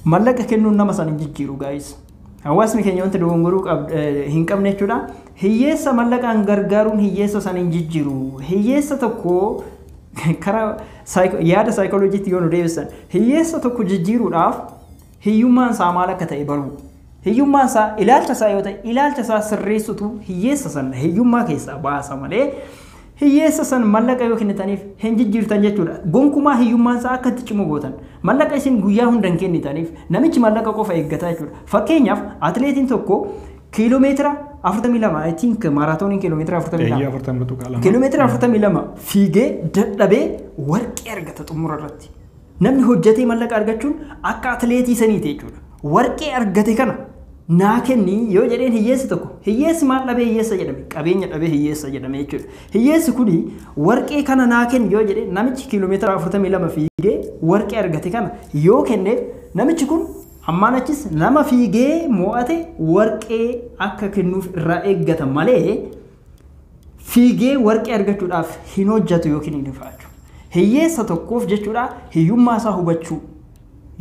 Mallaqa kennuun nama san hin jijjiiru guys. Hawaasni keenya wanta dogongoruu hin qabne jechuudha. Hiyyeessa mallaqaan gargaaruun hiyyeessa san hin jijjiiru. Hiyyeessa tokko karaa yaada saayikolojiitti yoo nu deebisan hiyyeessa tokko jijjiiruudhaaf hiyyummaan isaa maal akka ta'e baruu. Hiyyummaan isaa ilaalcha isaa yoo ta'e ilaalcha isaa sirreessutu hiyyeessa san hiyyummaa keessaa baasa malee hiyyeessa san mallaqa yoo kennitaniif hin jijjiirtan jechuudha. Gonkumaa hiyyummaan isaa akka itti cimu gootan. Mallaqa isin guyyaa hunda hin kennitaniif namichi mallaqa qofa eeggata jechuudha. Fakkeenyaaf atileetiin tokko kiiloomeetira 42 I think maaraatooniin kiiloomeetira 42 kiiloomeetira 42 fiigee dadhabee warqee argata xumura irratti. Namni hojjatee mallaqa argachuun akka atileetii saniiti jechuudha. Warqee argate kana naa kenni yoo jedheen hiyyeessi tokko hiyyeessi maal dhabee hiyyeessa jedhame qabeenya dhabee hiyyeessa jedhame jechuudha. Hiyyeessi kuni warqee kana naa kenni yoo jedhee namichi kiiloomeetira 42 fiigee warqee argate kana yoo kenneef namichi kun ammaan achis nama fiigee mo'ate warqee akka kennuuf irraa eeggata malee Fiigee warqee argachuudhaaf hin hojjatu yookiin hin ifaaju. Hiyyeessa tokkoof jechuudha hiyyummaa isaa hubachuu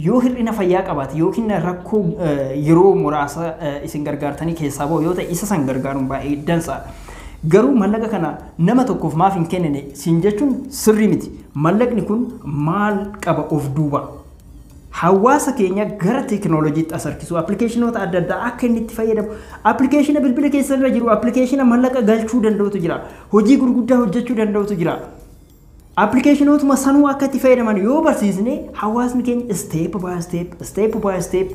yoo hir'ina fayyaa qabaate yookiin rakkoo yeroo muraasa isin gargaartanii keessaa ba'u yoo ta'e isa san gargaaruun baay'ee dansa. Garuu mallaqa kana nama tokkoof maaf hin kennine siin jechuun sirrii miti. Mallaqni kun maal qaba of duuba? Hawaasa keenya gara teekinooloojiitti as harkisuu, appilikeeshinoota adda addaa akka inni itti fayyadamu, appilikeeshina bilbila keessan irra jiru, appilikeeshina mallaqa galchuu danda'utu jira, hojii gurguddaa hojjechuu danda'utu jira. Appilikeeshinootuma sanuu akka itti fayyadaman yoo barsiisne hawaasni keenya isteep baay isteep, isteep baay isteep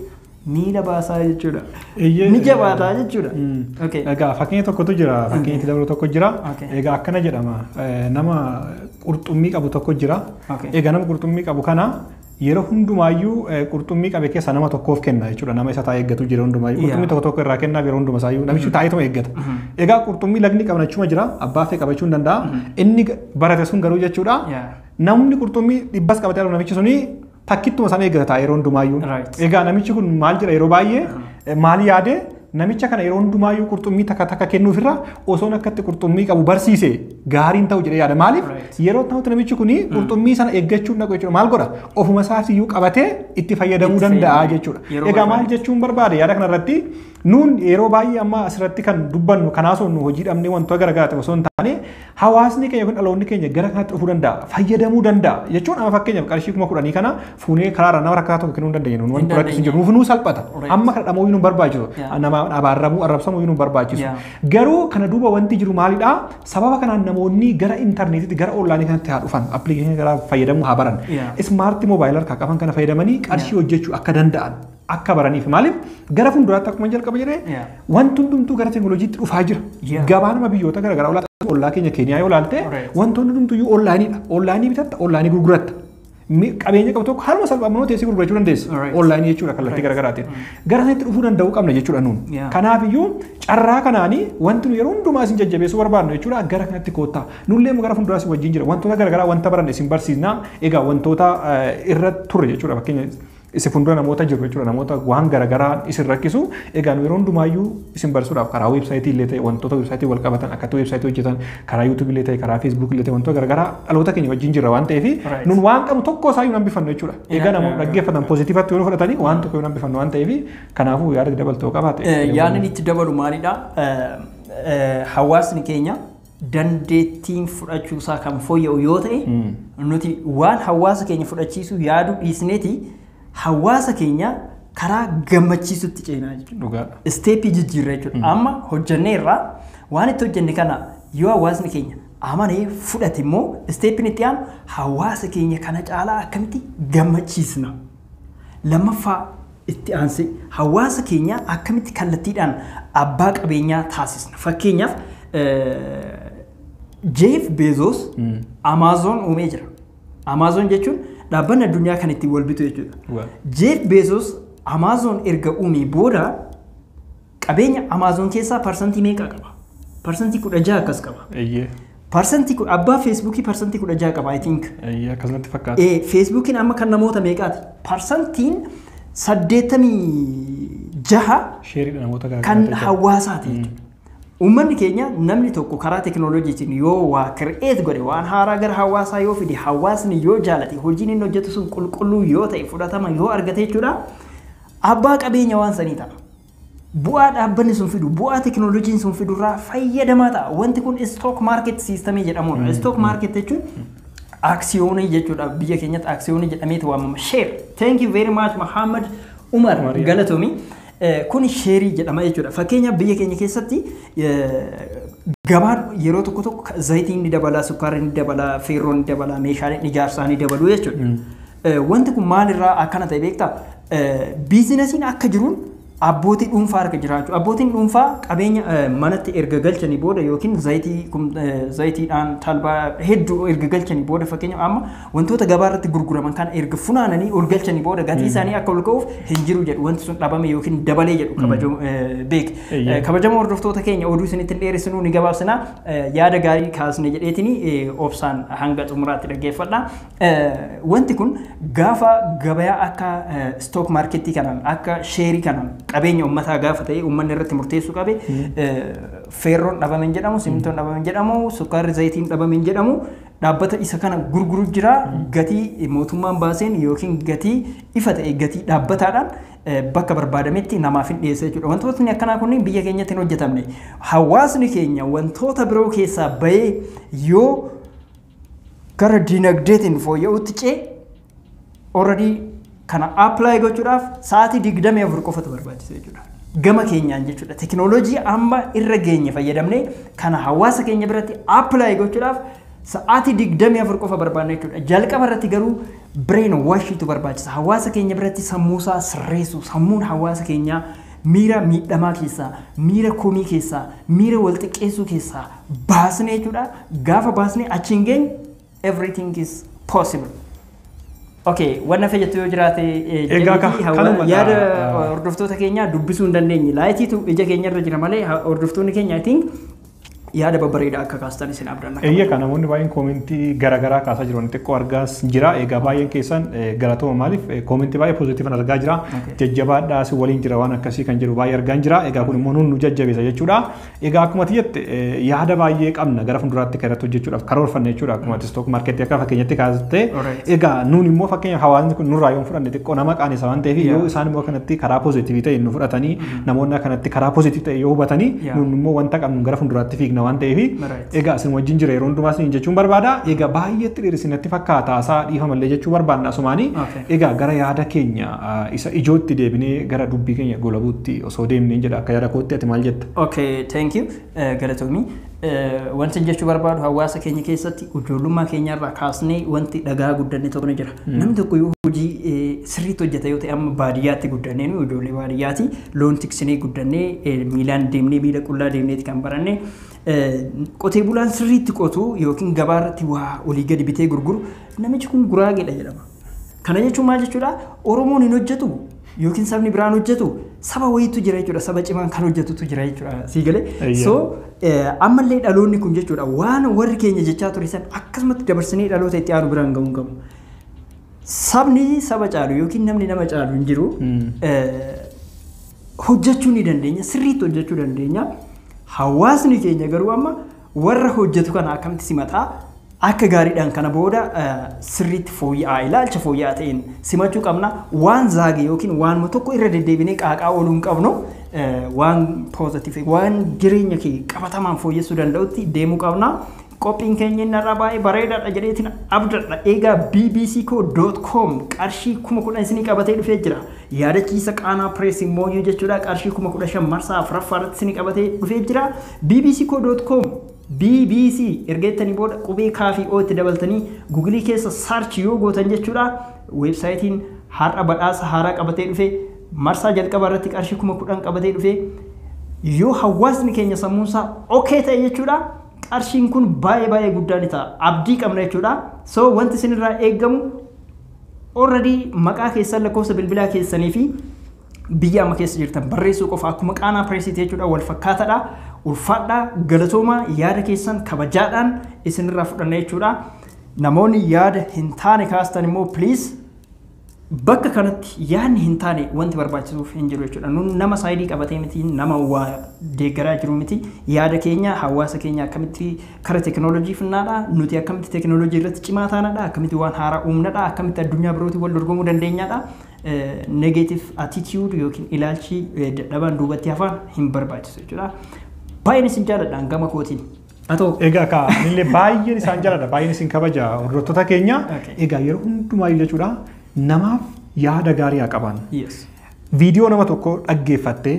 Ni na baasaa jechuudha. Eeyyee, Ni jabaataa eh, jechuudha. mm. Okay. Egaa fakkeenya tokkotu jira. Fakkeenya itti dabalu tokko jira. Okay. Egaa akkana jedhama. eh, Nama qurxummii qabu tokko jira. Okay. Egaa nama qurxummii qabu kana yeroo hundumaayyuu eh, qurxummii qabe keessaa nama tokkoof kenna jechuudha. Nama isa taa'ee eeggatu jira hundumaayyuu. Yeah. Qurxummii tokko tokko irraa kennaaf yeroo hundumaa isaayyuu namichi taa'eetuma eeggata. Egaa qurxummii lagni qabnachuma jira. Abbaa fee qabachuu hin danda'a. Inni ga- barate sun garuu jechuudha. Yeah. Namni qurxummii dhibbas qabatee argamu namichi suni takkittuma sana eeggata ta'a yeroo hundumaayyuu. Right. Egaa namichi kun maal jedha yeroo baay'ee eh, maal yaade namicha kana yeroo hundumaayyuu qurxummii takka takka kennuufirra osoon akkatti qurxummii qabu barsiise gaariin ta'u jedhee yaada. Maaliif Right. yeroo ta'utti namichi kun qurxummii sana eeggachuun dhaqu jechuudha. Maal godha ofuma isaas iyyuu qabatee itti fayyadamuu Itti danda'a fayyadamu. jechuudha. Yeroo Egaa maal barbaade. jechuun barbaade yaada kanarratti Nuun yeroo baay'ee amma asirratti kan dubbannu kan haasofnu hojii dhabnee wantoota garaagaraati osoo hin taane hawaasni keenya yookiin dhaloonni keenya gara kanatti dhufuu danda'a fayyadamuu danda'a jechuun amma fakkeenyaaf qarshii kuma kudhanii kana fuunee karaarra nama rakkataa tokko kennuu hin dandeenyu nuun wanti rakkisu hin jiru nuuf nuu salphata amma kana dhamuu nu barbaachisu nama abaarramuu arrabsamuu nu barbaachisu garuu kana duuba wanti jiru maalidha sababa kanaan namoonni gara intarneetitti gara onlaayinii kanatti haa dhufan appilikeeshinii garaa fayyadamuu haa baran ismaartii moobaayilaa harkaa qaban kana fayyadamanii qarshii hojjechuu akka danda'an akka baraniif maaliif gara fuulduraatti akkuma jalqaba jedhee Yeah. wanti hundumtuu gara teekinooloojiitti dhufaa jira. Yeah. Gabaanuma biyyoota garaagaraa olaa ollaa keenya Keeniyaa yoo ilaalte Right. wantoonni hundumtuu iyyuu onlaayiniidha. Onlaayinii bitatta, onlaayinii gurguratta. Mi- Qabeenya qabu tokko haaluma salphaa manoo teessee gurgurachuu dandeessa. Right. Onlaayinii jechuudha kallattii garaagaraatiin. Gara sanatti dhufuu danda'uu qabna jechuudha nuun. Yeah. Kanaaf iyyuu carraa kanaanii wanti nu yeroo hundumaa isin jajjabeessuu barbaadnu jechuudha gara kanatti koottaa. Nullee gara fuulduraas wajjin jira. Wantoota garaagaraa wanta baranne isin barsiisna. Egaa wantoota eh, irra turre jechuudha fakkeenya Isin fuuldura namoota jiru jechuudha. Namoota waan garaagaraa isin rakkisu. Egaa nu yeroo hundumaayyuu isin barsiisuudhaaf karaa weebsaayitii illee ta'e wantoota weebsaayitii wal qabatan akkatti weebsaayitii hojjetan karaa yuutuubii illee ta'e karaa feesbuukii illee ta'e wantoota garaagaraa dhaloota keenya wajjin jirra waan ta'eef Right. nun waan qabnu tokko isaa hin hambifannu jechuudha. Egaa Yeah, namoonni yeah, dhaggeeffatan poozitiivatti yoo fudhatanii waan tokko hin hambifannu waan ta'eef kanaafuu yaada dabaltoo qabaate. Eh, Yaadni itti dabalu maalidha? Eh, eh, Hawaasni keenya dandeettiin fudhachuu isaa kan fooyya'u yoo ta'e nuti waan hawaasa keenya fudhachiisuu yaaduu dhiisneeti hawaasa keenya karaa gammachiisutti ceenaa jechuudha. Dhugaadha. Isteeppii jijjiirra jechuudha. Amma hojjennee irraa waan itti hojjenne kana yoo hawaasni keenya amanee fudhate immoo isteeppiin itti aanu hawaasa keenya kana caalaa akkamitti gammachiisna. Lammaffaa, itti aansee, hawaasa keenya akkamitti kallattiidhaan abbaa qabeenyaa taasisna? Fakkeenyaaf, Jeef Beezoos Amaazoon uumee jira. Amaazoon jechuun dhaabbanni addunyaa kan ittiin wal bitu jechuudha. Jeef Beezoos Amaazoon erga uumee booda Qabeenya Amazon keessaa parsantii meeqa qaba? Parsantii 16 akkas qaba. Eeyyee. Parsantii ku- abbaa Facebookii parsantii 16 qaba I think. Eeyyee akkasumatti fakkaata. Eh, Facebookiin amma kan namoota meeqaati? Parsantiin 86 Sheeriidha namoota kan garaagaraa. hawaasaati jechuudha. Uummanni keenya namni tokko karaa tekinooloojiitiin yoo waa kireet godhe waan haaraa gara hawaasaa yoo fide hawaasni yoo jaalate hojiin inni hojjetu sun qulqulluu yoo ta'e fudhatama yoo argate jechuudha abbaa qabeenya waan sanii ta'a. Bu'aa dhaabbanni sun fidu, bu'aa tekinooloojiin sun fidu irraa fayyadamaa ta'a. Wanti kun istook maarket siistamii jedhamudha. Istook maarket jechuun aksiyoonii jechuudha. Biyya keenyatti aksiyoonii jedhameeti waamama. Sheer. Thank you very much Muhammad Umar Umar. galatomi. Eh, Kun sheerii jedhama jechuudha. Fakkeenyaaf biyya keenya keessatti eh, gabaan yeroo tokko tokko ka- zayitiin ni dabala, sukkaarri ni dabala, feerroon ni dabala, meeshaaleen ijaarsaa ni dabalu jechuudha. Eh, Wanti kun maalirraa akkana ta'e beektaa? Biizinasiin akka jiruun abbootii dhuunfaa harka jiraachuu. Abbootiin dhuunfaa qabeenya manatti erga galchanii booda yookiin zayitii zayitiidhaan talbaa hedduu erga galchanii booda fakkeenya amma wantoota gabaa irratti gurguraman kana erga funaananii ol galchanii booda gatii isaanii akka ol ka'uuf hin jiru jedhu wanti sun dhabame yookiin dabalee jedhu kabajamu beek. Kabajamoo hordoftoota keenya oduu isinitti hin dheeressinuu ni gabaabsina yaada gaarii kaasne jedheetini obsaan hanga xumuraatti dhaggeeffadha. Wanti kun gaafa gabayaa akka stock marketii kanaan akka sheerii kanaan qabeenya ummataa gaafa ta'e ummanni irratti murteessuu qabe feerroon dhabame hin jedhamu simintoon dhabame hin jedhamu sukkaarri zayitiin dhabame hin jedhamu dhaabbata isa kana gurguru jira gatii mootummaan baaseen yookiin gatii ifa ta'e gatii dhaabbataadhaan bakka barbaadametti namaaf hin dhiyeessa jechuudha. Wantootni akkanaa kunniin biyya keenyatti hin hojjetamne. Hawaasni keenya wantoota biroo keessaa bahee yoo gara dinagdeetiin fooyya'uutti ce'e already kana apply gochuudhaaf sa'aatii 24 qofatu barbaachisa jechuudha. Gama keenyaan jechuudha. Tekinooloojii amma irra geenye fayyadamnee kana hawaasa keenya biratti apply gochuudhaaf sa'aatii 24 qofa barbaanna jechuudha. Jalqaba irratti garuu brain washiitu barbaachisa. Hawaasa keenya biratti sammuusaa sirreessu, sammuun hawaasa keenyaa miira miidhamaa keessaa, miira komii keessaa, miira wal xiqqeessuu keessaa baasne jechuudha. Gaafa baasne achi hin geenye everything is possible. Okay, wanna fee jettu yoo jiraate eh, Egaa jedhiitii ka- hawa- kanuma gaa- yaada ah. hordoftoota keenyaa dubbisuu hin dandeenye. Laayitiitu ija keenya irra jira malee ha- hordoftoonni keenya I think yaada babbareedaa akka kaastan isin abdanna. Eeyyee kan namoonni baay'een koomentii garaagaraa kaasaa jiran xiqqoo argaas jira. Egaa baay'een keessan eh, galatooma maaliif eh, koomentii baay'ee pozitiivan argaa jira. Okay. Jajjabaadhaa si waliin jira waan akkasii kan jedhu baay'ee argaan jira. Egaa kun immoo nuun nu jajjabeessa jechuudha. Egaa akkuma ati jette yaada baay'ee qabna gara fuulduraatti kan irratti hojjechuudhaaf karoorfanne jechuudha akkuma ati stock markeetti akka fakkeenyatti kaastee Alright. egaa nuun immoo fakkeenya hawaasni kun nurraa yoo fudhanne xiqqoo nama qaanessa waan ta'eef yoo isaan immoo kanatti karaa poozitiivii ta'e nu fudhatanii namoonni kanatti karaa poozitiivii ta'e yoo hubatanii Yeah. nuun immoo wanta qabnu gara fuulduraatti fiigna waan ta'eef Alright. egaa isin wajjin jira yeroo hundumaa isin jechuun barbaada egaa baay'ee xiriirisi natti fakkaata isaa dhiifamallee jechuu barbaadna asumaanii Okay. Egaa gara yaada keenya isa ijootti deebinee gara dubbii keenya goolabuutti osoo deemneen jedha akka yaada kootti ati maal jetta? Ok thank you galatoomi. Wantin jechuu barbaadu hawaasa keenya keessatti ijoollummaa keenya irraa kaasnee wanti dhaga'aa guddanne tokko ni jira. Namni tokko yoo hojii sirriitti hojjeta yoo ta'e amma baadiyyaatti guddannee nu ijoollee baadiyyaati loon tiksinee guddannee miilaan deemnee miila qullaa deemneeti kan baranne. Qotee bulaan sirriitti qotu yookiin gabaa irratti waa olii gadi bitee gurguru Namichi kun guraageedha jedhama. Kana jechuun maal jechuudha? Oromoon hin hojjetu yookiin sabni biraan hojjetu saba wayiitu jira jechuudha. Saba cimaan kan hojjetutu jira jechuudha. Sii galee? Eeyyee. So eh, ammallee dhaloonni kun jechuudha waan warri keenya jechaa ture san akkasumatti dabarsinee dhaloota itti aanu biraan ga'uun qabu. Sabni saba caalu yookiin namni nama caalu hin jiru. Mm. Eh, hojjechuu ni dandeenya sirriitti hojjechuu dandeenya hawaasni keenya garuu amma Warra hojjetu kana akkamitti simataa? Akka gaariidhaan kana booda sirriitti fooyya'aa ilaalcha fooyya'aa ta'een simachuu qabna. Waan zaage yookiin waanuma tokko irra deddeebinee qaaqaa ooluu hin qabnu. Waan poozatiif waan jireenya kee qabatamaan fooyyessuu danda'utti deemuu qabna. Qophiin keenya inni irraa baay'ee bareedaadha jedheetiin abdadha. Egaa bbcco.com qarshii kuma kudhan isinii qabatee dhufee jira. Yaadachiisa qaanaa pireesii mooyyuu jechuudha qarshii kuma kudha shan marsaa afuraffaa irratti isinii qabatee dhufee jira. bbcco.com, bbc erga jettanii booda qubee K fi O itti dabaltanii Google keessa search yoo gootan jechuudha website'n har'a badhaasa haaraa qabatee dhufe marsaa jalqabaa irratti qarshii 10,000 qabatee dhufe yoo hawaasni keenya sammuun isaa ok ta'e jechuudha qarshiin kun baay'ee baay'ee guddaa ni ta'a abdii qabna jechuudha so wanti isinirraa eegamu already maqaa keessan lakkoofsa bilbilaa keessanii fi biyya amma keessa jirtan barreessuu qofa akkuma qaanaa pireesiiti jechuudha wal fakkaataadha ulfaadhaa galatoomaa yaada keessan kabajaadhaan isinirraa fudhanna jechuudha namoonni yaada hin taane kaastan immoo please bakka kanatti yaadni hin taane wanti barbaachisuuf hin jiru jechuudha nun nama saayidii qabatee miti nama waa deeggaraa jiru miti yaada keenya hawaasa keenya akkamitti kara teekinooloojii finnaadha nuti akkamitti teekinooloojii irratti cimaa taanadha akkamitti waan haaraa uumnadha akkamitti addunyaa birootiin wal dorgomuu dandeenyadha negative attitude yookiin ilaalchi dadhabaan duubatti hafaan hin barbaachisu jechuudha. Baay'een isin jaaladhaan gama kootiin. Atoo. Egaa kaa anillee baay'een isaan jaaladha baay'een isin kabaja hordoftoota keenya Okay. egaa yeroo hundumaa jechuudha namaaf yaada gaarii haa qaban. Yes. Viidiyoo nama tokko dhaggeeffattee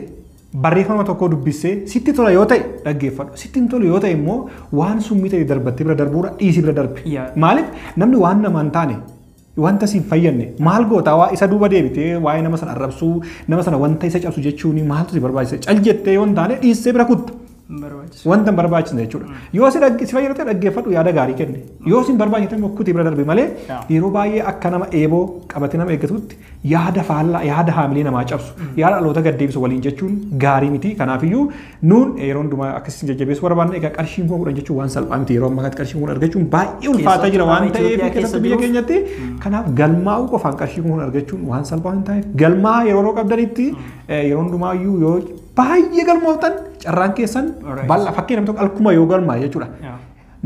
barreeffama tokko dubbissee sitti tola yoo ta'e dhaggeeffadhu sitti hin tolu yoo ta'e immoo waan summii ta'e darbattee bira darbuudha dhiisii bira darbi. Yaa. Maaliif namni waan namaan taane Wanta si hin fayyadne maal goota? Waa isa duuba deebitee waa'ee nama sana arrabsuu, nama sana wanta isa cabsu jechuun maaltu si barbaachisa? Cal jettee yoo hin taane dhiissee bira kutta. Hin barbaachisu. Wanta hin barbaachisne jechuudha. Yoo si dhagge- si fayyadate dhaggeeffadhu yaada gaarii kenni. Yoo si hin barbaachise ta'e immoo kutii bira darbi malee Yaa. yeroo baay'ee akka nama eeboo qabatee nama eeggatutti yaada faallaa yaada haamilee namaa cabsu yaada dhaloota gad deebisu waliin jechuun gaarii miti. Kanaafiyyuu Nuun yeroo hundumaa akka isin jajjabeessu barbaanna egaa qarshiin kuma kudhan jechuun waan salphaa miti yeroo ammaa kanatti qarshiin kun argachuun baay'ee ulfaataa jira waan ta'eef keessatti biyya keenyatti kanaaf galmaa'uu qofaan qarshii kun argachuun waan salphaa hin ta'eef galmaa yeroo qabdanitti yeroo hundumaayyuu yoo baay'ee galmooftan carraan keessan bal'aa fakkii namni tokko alkuma yoo galmaa jechuudha.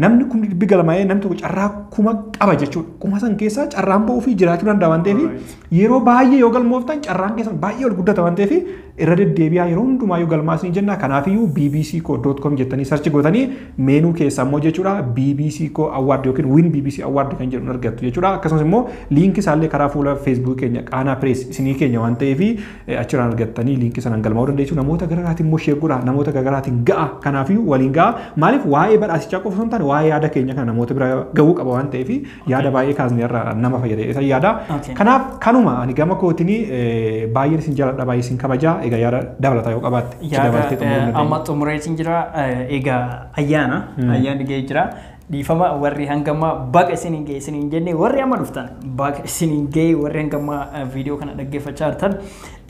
namni kun dhibbi galmaa'ee namni tokko carraa kuma qaba jechuudha. Kuma san keessaa carraan ba'uu fi jiraachuu danda'a waan ta'eef yeroo baay'ee yoo galmooftan carraan keessan baay'ee ol guddata waan ta'eef irra deddeebi'aa yeroo hundumaa yoo galmaas ni jenna. Kanaafiyyuu bbc koo doot koom jettanii sarchi gootanii meenuu keessaa immoo jechuudha bbc koo awwaard yookiin win bbc awwaard kan jedhu argattu jechuudha. Akkasumas immoo liinkii isaallee karaa fuula feesbuukii keenya qaanaa pirees isinii keenya waan ta'eef achiraan argattanii liinkii sanaan galmaa'uu dandeessu namoota gararaatiin immoo sheer godhaa namoota gararaatiin ga'a kanaafiyyuu waliin ga'a maaliif waa'ee badhaasichaa qofa osoo hin taane waa'ee yaada keenya kana namoota bira ga'uu qaba waan ta'eef yaada baay'ee kaasne irra nama fayyada isa yaada Okay. kanaaf kanuma ani gama kootiin baay'een isin jaaladha baay'ee isin kabajaa egaa yaada dabalataa yoo qabaatte itti yaada dabaltee xumuruu eh, dandeenya. amma xumureetiin jira eh, egaa ayyaana ayyaanni ga'ee jira Dhiifama warri hanga ammaa baga isiniin ga'e isiniin jenne warri amma dhuftan baga isiniin ga'e warri hanga ammaa eh, viidiyoo kana dhaggeeffachaa jirtan.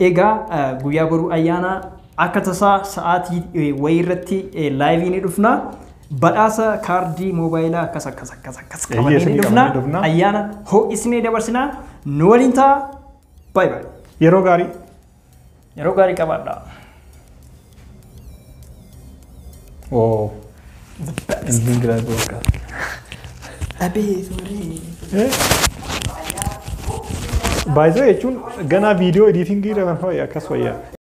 Egaa eh, guyyaa boruu ayyaana akka tasaa sa'aatii eh, wayii irratti eh, laayivii ni dhufna. Badhaasa kaardii moobaayilaa akkas akkas akkas akkas Eeyyee, qabannee ni isinii dhufna. qabannee dhufna. Ayyaana ho'isnee dabarsinaa nu waliin ta'a. Baay'ee baay'ee. Yeroo gaarii. Yeroo gaarii qabaadha. Wow. Ending grad boka. Abee suurri. Baay'ee jechuun ganaa viidiyoo ediitingii irra kan ho'i akkas wayyaa.